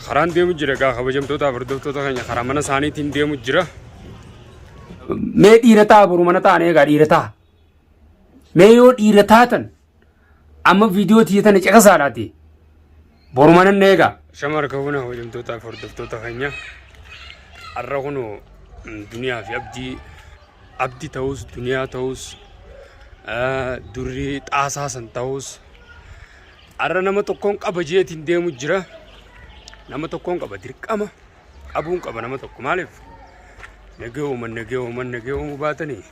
Karaan deemu jira egaa kabajamtootaaf hordoftoota keenya karaa mana isaaniitiin deemu jira. Mee dhiira ta'a boru mana ta'an egaa dhiira ta'a. Mee yoo dhiira taatan amma viidiyoo tiyya tana caqasaadhaati. Boru mana na egaa. Shama harka fuuna kabajamtootaaf hordoftoota keenya har'a kun duniyaa fi abdii abdi ta'us duniyaa ta'us durri xaasaa san ta'us Arra nama tokkoon qaba jeetiin deemu jira. Nama tokkoon qaba dirqama qabuun qaba nama tokko maaliif nagee uuman nagee uuman nagee uumuu baatanii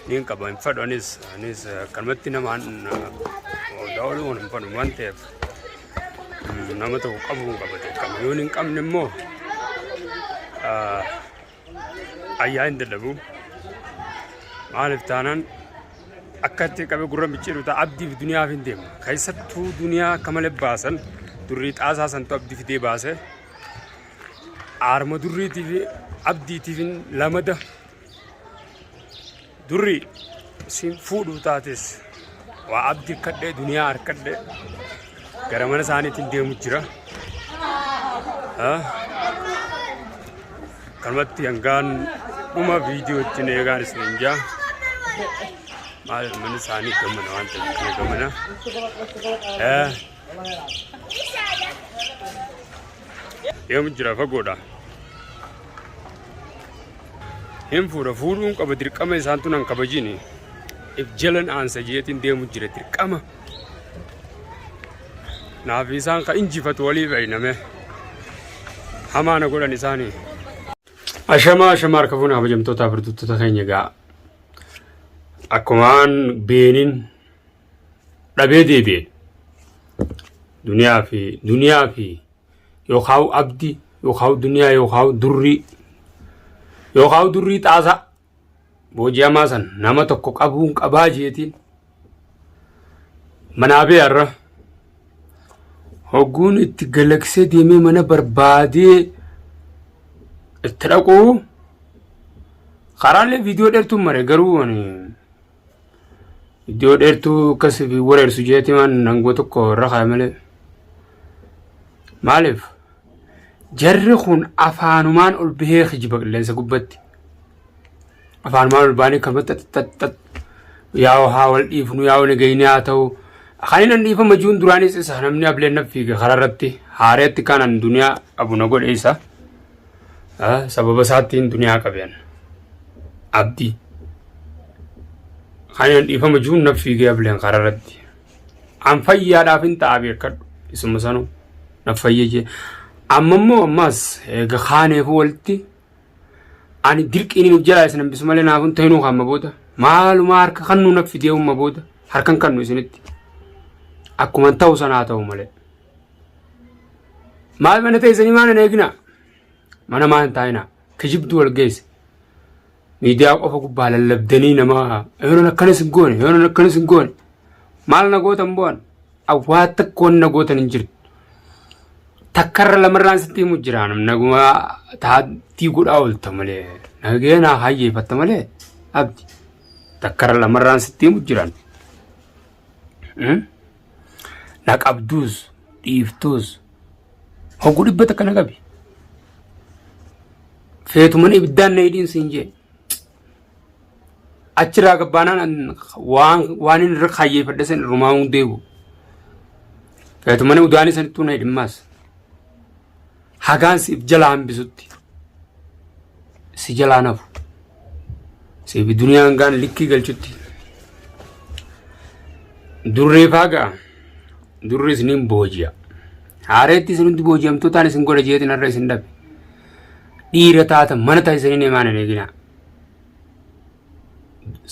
niin qaba hin fadhu anis anis akkanumatti nama daawwalu waan hin fadhu waan ta'eef nama tokko qabuun qaba dirqama yoo hin qabne immoo ayyaa hin dadhabu maaliif taanaan akkatti qabe gurra micciiru ta'a abdiif duniyaaf hin deema keessattuu duniyaa akka malee baasan durrii xaasaa santu abdi fidee baase aarma durriitiif abdiitiif lamada Durri siin fuudhu taates waa abdi akkadhee duniyaa harkadhee gara mana isaaniitiin deemu jira. Kanumatti hangaan dhuma viidiyoo ittiin eegaan isin hin jaa. Maal mana isaanii gamana waan ta'eef kana gamana. Yoom jira fagoodha. Hin fuudha fuudhuun qaba dirqama isaantu nan kabajini. If jalan aansa jeetiin deemu jira dirqama. Naaf isaan ka injifatu walii fayyiname. Hamaa na godhan isaanii. Ashamaa ashamaa harka fuunaa kabajamtootaa birtuttoota keenya gaa. Akkumaan beeniin dhabee deebi'e duniyaa fi duniyaa fi yookaan abdi yookaan duniyaa yookaan durrii yookaan durrii xaasaa booji'amaa san nama tokko qabuun qabaa jeetiin manaa bee har'a hogguun itti galaksee deemee mana barbaadee itti dhaquu karaalee viidiyoo dheertuun mare garuu ani Iddoo dheertuu akkas fi wareersu jeeti waan nangoo tokko irra kaa'e malee. Maaliif? Jarri kun afaanumaan ol bahee kijiba qilleensa gubbatti. Afaanumaan ol baanii kan xaxxaxxax yaa haa wal dhiifnu yaa wal gayni haa ta'u. Kan inni dhiifama jiruun duraanis isa namni ableen naffiige karaa irratti haareetti kanan duniyaa abu na godhe isa. sababa isaattiin duniyaa qabean abdi kanaan dhiifama jiruun naf fiigee ableen karaa irratti an fayyaadhaaf hin ta'a beekadhu isuma sanuu naf fayyee jee amma immoo ammaas eega kaaneefu walitti ani dirqiin hin jalaa isin hambisu malee naaf hin ta'inuu kaamma booda maalumaa harka kannuu naf fidee umma booda harkan kannu isinitti akkuman ta'u sanaa ta'u malee. maal mana teessanii maal hin eegina mana maa hin taa'ina kijibdu wal geesse miidiyaa qofa gubbaa lallabdanii namaa yoonan akkanas hin goone yoonan akkanas hin goone maal na gootan bu'an awwaa takkoon na gootan hin jirtu takkarra lamarraan sitti himu jira naguma taattii godhaa oolta malee nagee naa hayyeeffatta malee abdi takkarra lamarraan sitti himu jiran. Na qabduus dhiiftuus hogguu dhibba takka na qabi. Feetu mana ibiddaan na hidhiin siin jee. Achirraa gabbaanaan waan inni irra kaayyeeffadhe san irrumaa hundeebu. Feetu mana udaanii sanittuu na hidhimmaas. hagaan siif jala hambisutti si jalaan hafu siif duniyaa hangaan likkii galchutti durreef hagaa durri isiniin booji'a haareetti isin hundi booji'amtootaan isin godha jeetiin har'a isin dhabe dhiira taata mana ta'a isiniin himaan hin eeginaa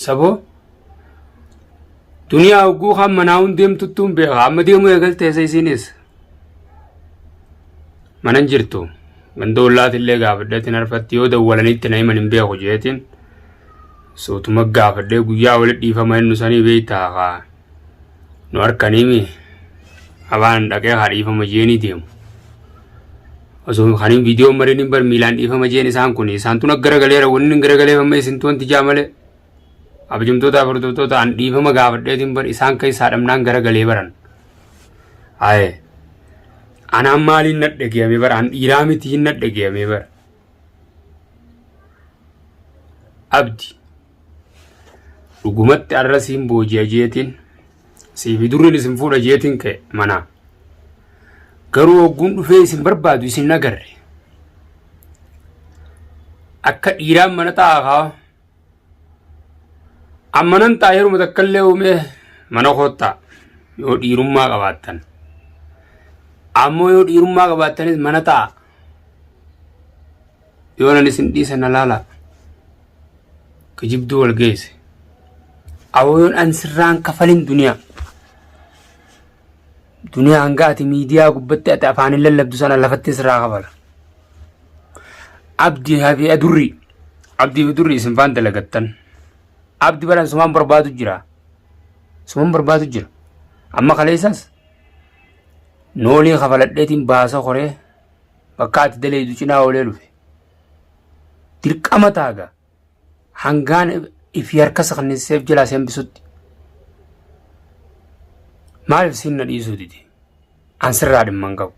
saboo duniyaa hogguu kan manaa hun deemtuttuun beeka amma deemuu eegalteessa isiinis manan jirtu ganda ollaatillee gaafadheetiin arfatti yoo dawwalaniitti na himan hin beeku jeetiin suutuma gaafadhee guyyaa wali dhiifama inni sanii beektaa kaa nu harkaniimi abaan dhaqee haa dhiifama jeenii deemu. Osoo kaniin viidiyoon malee ni bar miilaan dhiifama jeen isaan kun isaan tun garagaleera wanni garagalee amma isin tuwan tijaa malee. Abjumtoota furdurtoota an dhiifama gaafadheetiin bar isaan keessaa dhamnaan garagalee baran. Haye. Anaan maaliin na dhageyame bara an dhiiraa mitiin na dhageyame bara. Abdi. Dhugumatti arra siin booji'a jeetiin siifi durriin isin fuudha jeetiin ka'e manaa. Garuu hogguun dhufee isin barbaadu isin nagarre. Akka dhiiraan mana taa'aa kaa. Amma nan taa'e yeruma takka illee uumee mana koottaa yoo dhiirummaa qabaattan. Ammoo yoo dhiirummaa qabaattanis mana taa'a. yoonan isin dhiisa na laalaa kijibduu wal geesse awoo yoon an sirraan kafalin duniyaa duniyaa hanga ati miidiyaa gubbatti ati afaanin lallabdu sana lafatti sirraa kafala abdi hafi adurri abdi fi durri isin faan dalagattan abdi baran sumaan barbaadu jira sumaan barbaadu jira amma kaleessas noolii kafaladheetiin baasa koree bakka ati daleeydu cinaa oolee dhufe dirqama taaga hangaan ifi harka saknisiseef jalaa si hambisutti maaliif siin na dhiisuu dide an sirraa dhimma hin qabu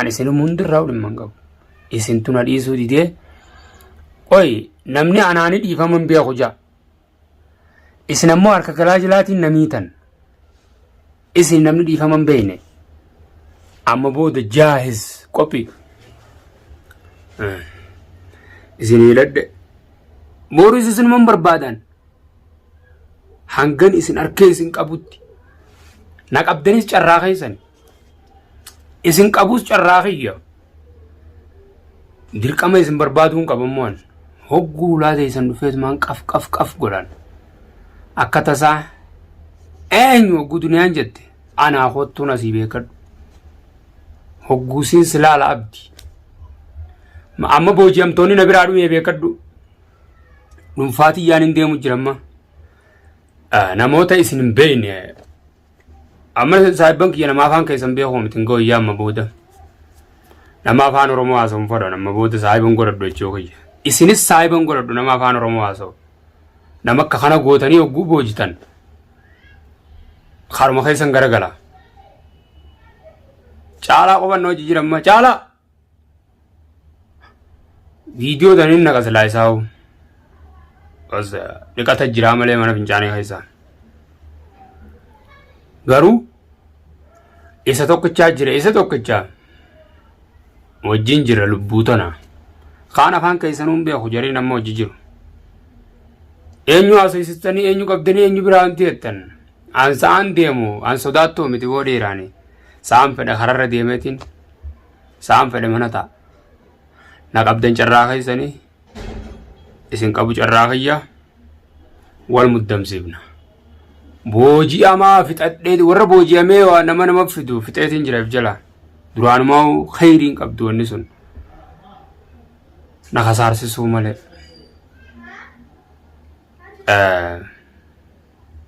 an isinum hundirraa dhimma hin qabu isintu na dhiisuu didee qoy namni anaani dhiifama hin beeku jaa Isin ammoo harka garaa jalaatiin na miitan. Isin namni dhiifama hin beekne. Amma booda jaahiz qophii. Isin hidhadhe. Booris isinuma hin barbaadan. Hangan isin harkee isin qabutti. Na qabdanis carraa keessan. Isin qabuus carraa kiyya. Dirqama isin barbaaduu hin qaban mo'an. Hogguu ulaa teessan dhufeetumaan qaf qaf qaf godhan. Akka tasaa eenyu hogguu duniyaan jette anaa kottuun asii beekadhu. Hogguu siin silaala abdi. Ma- Amma booji'amtoonni na biraa dhumee beekadhu. Dhuunfaa tiyyaan hin deemu jiramma. Namoota isin hin beekne Amma saahibban kiyya nama afaan keessan beekoo miti hin gooyyaa amma booda. Nama afaan Oromoo haasa'uun fadhan amma booda saahiban godhadhu jechuu kiyya. Isinis saahiban godhadhu nama afaan Oromoo haasa'u. Nama akka kana gootanii hogguu boojitan. Karuma keessan garagala. Caalaa qubannoo jijjiiramma caalaa. Viidiyoo tan hin naqa silaa isaa hoo. Bas dhiqata jiraa malee mana fincaanii keessaa. Garuu isa tokkichaa jira isa tokkichaa wajjin jira lubbuu tana. Kaan afaan keessanuu hin beeku jareen amma hojii jiru. Eenyu haasofsiistanii eenyu qabdanii eenyu biraa wanti jettan. An sa'aan deemu an sodaattuu miti boo dhiiraani. Sa'aan fedha kararra deemeetiin. sa'aan fedhe mana ta'a na qabdan carraa keessanii isin qabu carraa kiyya wal muddamsiifna booji'amaa fixadhee warra booji'amee waa nama nama fidu fixeetiin jiraaf jala duraanumaa kheyriin qabdu wanni sun na kasaarsisuu malee. Eh,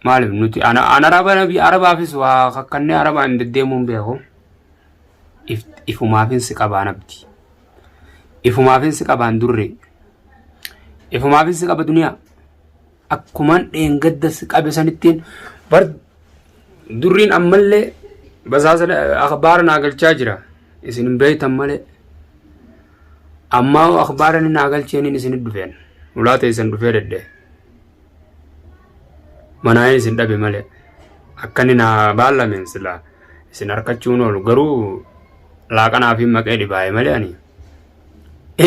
Maaliif nuti an araba nabi arabaafis waa kakkannee arabaan deddeemuun beeku. Ifumaafin si qabaan abdi. Ifumaafin si qabaan durree. Ifumaafin si qaba duniyaa. Akkuman dheengadda si qabe sanittiin bar durriin ammallee basaasa akbaara naa galchaa jira. Isin hin beektan malee. Ammaa akbaara ni naa galcheeniin isin dhufeen. Ulaa teessan dhufee dedde. manaa isin dhabe malee akka inni naa baallamen silaa isin harkachuun oolu garuu laaqanaa fi maqee dhibaa'e malee ani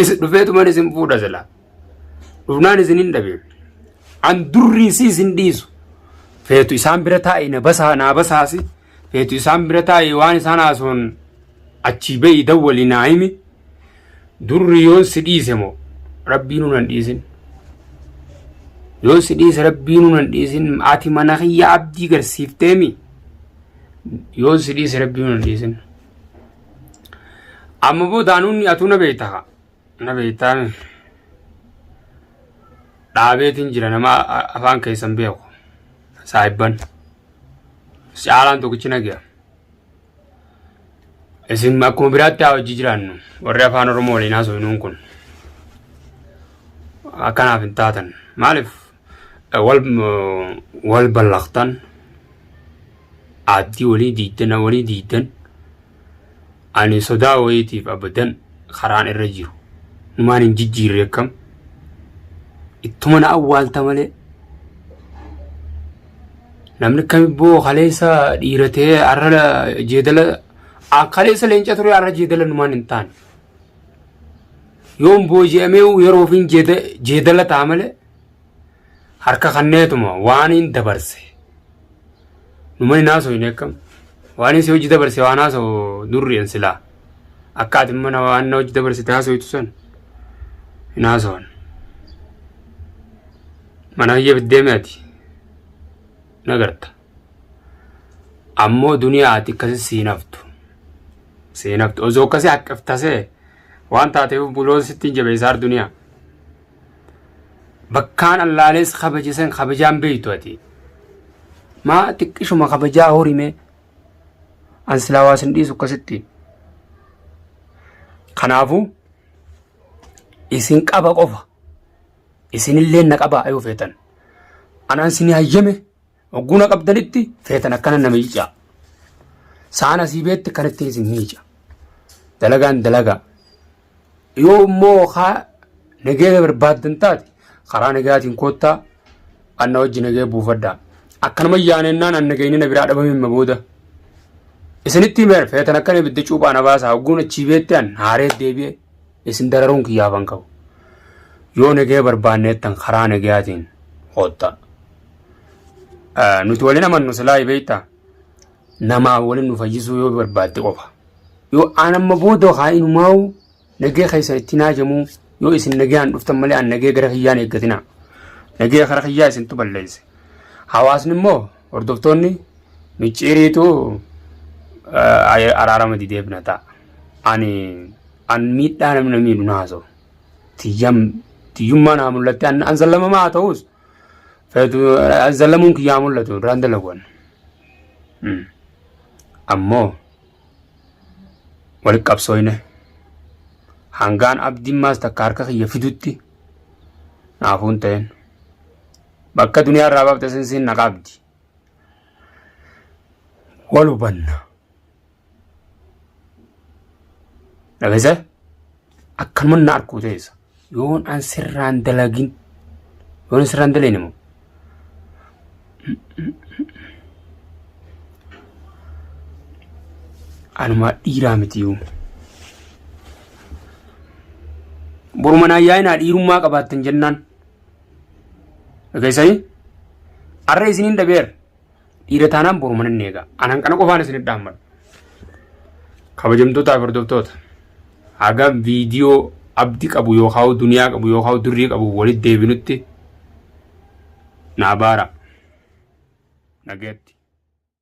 is dhufeetuman isin fuudha silaa dhufnaan isin hin dhabe an durrii si isin dhiisu feetu isaan bira taa'e na basaa naa basaasi feetu isaan bira taa'e waan isaan haasoon achii ba'i dawwali naa himi. Durri yoon si dhiise moo rabbiinu nan dhiisin. Yoon si dhiise rabbiinu nan dhiisin ati mana kiyya abdii garsiifteemi. Yoon si dhiise rabbiinu nan dhiisin. Amma booda anuunni atuu na beektaa na beektaami. Dhaabeetiin jira nama afaan keessan beeku saahibban. Caalaan tokkichi na gaya. Isin akkuma biraatti haa hojii jiraannu warri afaan Oromoo waliin haasofnuun kun akkanaaf hin taatan maaliif wal wal ballaqtan aaddii walii diigdan walii diigdan ani sodaa wayiitiif abadan karaan irra jiru numaan hin jijjiirre akkam ittuma na awwaalta malee Namni akka ibboo kaleessa dhiira ta'ee har'a jeedala a- kaleessa leenca ture har'a jeedala numaan hin taane. Yoon booji'amee yeroo ofiin jeeda- jeedala ta'a malee harka kanneetuma waan hin dabarse. Numa hin haasofne akkam. Waan inni si hojii dabarse waan haasa'u durri'en silaa. Akka ati mana waan hojii dabarsite haasoftu san hin haasawan. Mana kiyya deemi ati nagarta. Ammoo duniyaa ati akkasi siin haftu. Siin haftu osoo akkasi haqqaf tasee waan taateef buloon sitti hin jabeessaar duniyaa. Bakkaan allaalees kabajisan kabajaan beektu ati. Maa xiqqishuma kabajaa horimee. an silaa waa sin dhiisu akkasitti kanaafu isin qaba qofa isinillee na qabaa yoo feetan anaan sin hayyame hogguu na qabdanitti feetan akkana na miicaa saan asii beetti kan ittiin isin miica dalagaan dalagaa Yoo immoo haa nageenya barbaaddan taate karaa nagaatiin koottaa anna wajji nagee buufadhaa. Akkanuma yaanennaan an nageenyi na biraa dhabame himma booda. Isinitti himeera feetan akkan ibidda cuuphaa na baasaa hogguun achii beetti an haaree deebi'e isin dararuun kiyyaaf an qabu. Yoo nagee barbaanneettan karaa nagaatiin koottaa. Nuti waliin amannu silaa beektaa. namaa waliin nu fayyisuu yoo barbaadde qofa. Yoo aan amma booda haa inumaa'u nagee keessan itti naajamuu yoo isin nagaan dhuftan malee aan nagee gara kiyyaan eeggatinaa. Nagee kara kiyyaa isintu balleesse. Hawaasni immoo hordoftoonni micciiriitu araarama didee bina ta'a. Ani an miidhaa namni na miidhu na haasa'u. Tiyyam tiyyummaa naa mul'atte an sallamamaa haa ta'us. Feetu zallamuun kiyyaa mul'atu irraan dalaguwan. Ammoo walitti qabsooyne hangaan abdiin maas takka harka kiyya fidutti naafuun ta'een bakka duniyaa irraa baafte sinsiin na qabdi. Wal hubanna. Dhageessa akkanuma na arkuu teessa yoon an sirraan dalagin yoon an sirraan dalagin immoo anumaa dhiiraa miti yoo. Boruma naa yaa'inaa dhiirummaa qabaattan jennaan. Dhageessanii? Arra isiniin dhabeera. Dhiira taanaan boru mana inni eegaa. Anaan kana qofaan isin dhaammadha. Kabajamtootaa fi hordoftoota haga viidiyoo abdi qabu yookaan duniyaa qabu yookaan durrii qabu walitti deebinutti naa baara. Nageetti.